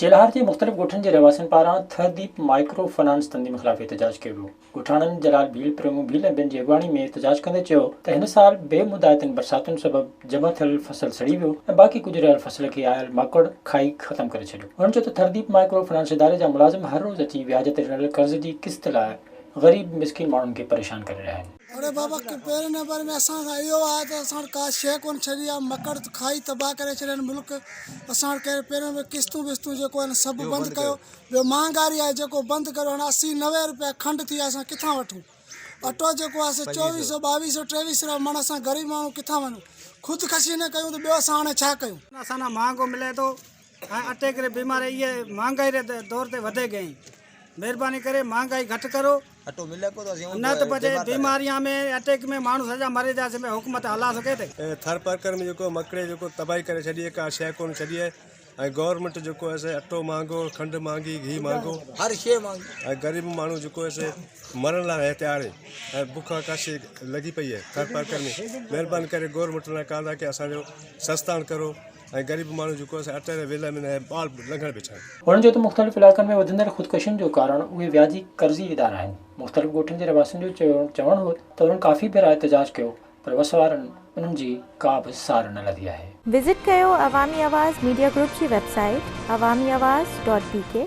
چيلهار جي مختلف ڳوٺن جي رهواسين پاران تهذيب مائڪرو فنانس تنظيم خلاف احتجاج ڪيو ويو. ڳوٺاڻن جلال ڀيل، پريمو ڀيل ۽ ٻين جي اڳواڻي ۾ احتجاج ڪندي چيو ته هن سال بي مدعاتين برساتن سبب جمع ٿيل فصل سڙي ويو ۽ باقي ڪجهه رهيل فصل کي آيل ماڪڙ کائي ختم ڪري ڇڏيو. هن چيو ته تهذيب مائڪرو فنانس اداري جا ملازم هر روز اچي وياج تي ڏنل قرض جي قسط لاء غريب مسڪين ماڻهن کي پريشان ڪري رهيا آهن. اڙي بابا ڪي پهرين نمبر ۾ اسان کان اهو آهي ته اسان وٽ ڪا شيء ڪونه ڇڏي آهي مڪڙ ته کائي تباهه ڪري ڇڏين ملڪ اسان وٽ ڪهڙي پهرين نمبر قسطون وسطون جيڪو آهن سڀ بند ڪيو ٻيو مهانگاري آهي جيڪو بند ڪريو هاڻي اسي نوي روپيا کنڊ ٿي آهي اسان ڪٿان وٺون اٽو جيڪو آهي سو چوويهه سو ٻاويهه سو ٽيويهه سو رپيا مڻ اسان غريب ماڻهو ڪٿان وڃون خودڪشي نه ڪيون ته ٻيو اسان هاڻي ڇا ڪيون. اسان نا مهانگو ملي ٿو ۽ اٽيڪ ري بيماري ايئي مھانگائي ري دور تي وڌي گئي مھرباني ڪري مھانگائي گھٽ ڪرو نه ته پڇي بيماريان ۾ اٽيڪ ۾ ماڻھو سڄا مري جاسي ڀي حڪومت ھلا سگھي تي. ٿر پرڪر ۾ جيڪو مڪڙي جيڪو تباھي ڪري ڇڏي ھي ڪا شئي ڪون ڇڏي ھي ۽ گورمينٽ جيڪو ھي سي اٽو مھانگو کنڊ مھانگي گھي مھانگو ھر شئي مھانگي ۽ غريب ماڻھو جيڪو ھي سي مرڻ لا ھي تيار ھي ۽ بک ھڪاشي لڳي پئي ھي ٿر پرڪر ۾ مھرباني ڪري گورمينٽ لا ڪال ھا ڪي اسان جو سستاڻ ڪرو. ۽ غريب ماڻهو جيڪو آهي سو اٽ ۽ ويلهه ۾ نه آهي ٻال لنگهڻ به ڇا. هن چيو ته مختلف علائقن ۾ وڌندڙ خودڪشين جو ڪارڻ اهي وياجي قرضي ادارا آهن، مختلف ڳوٺن جي رهواسين جو چوڻ هو ته انهن ڪافي ڀيرا احتجاج ڪيو پر وس وارن انهن جي ڪا به سار نه لڌي آهي. وزٽ ڪيو عوامي آواز ميڊيا گروپ جي website Awami Awaz dot بي ڪي.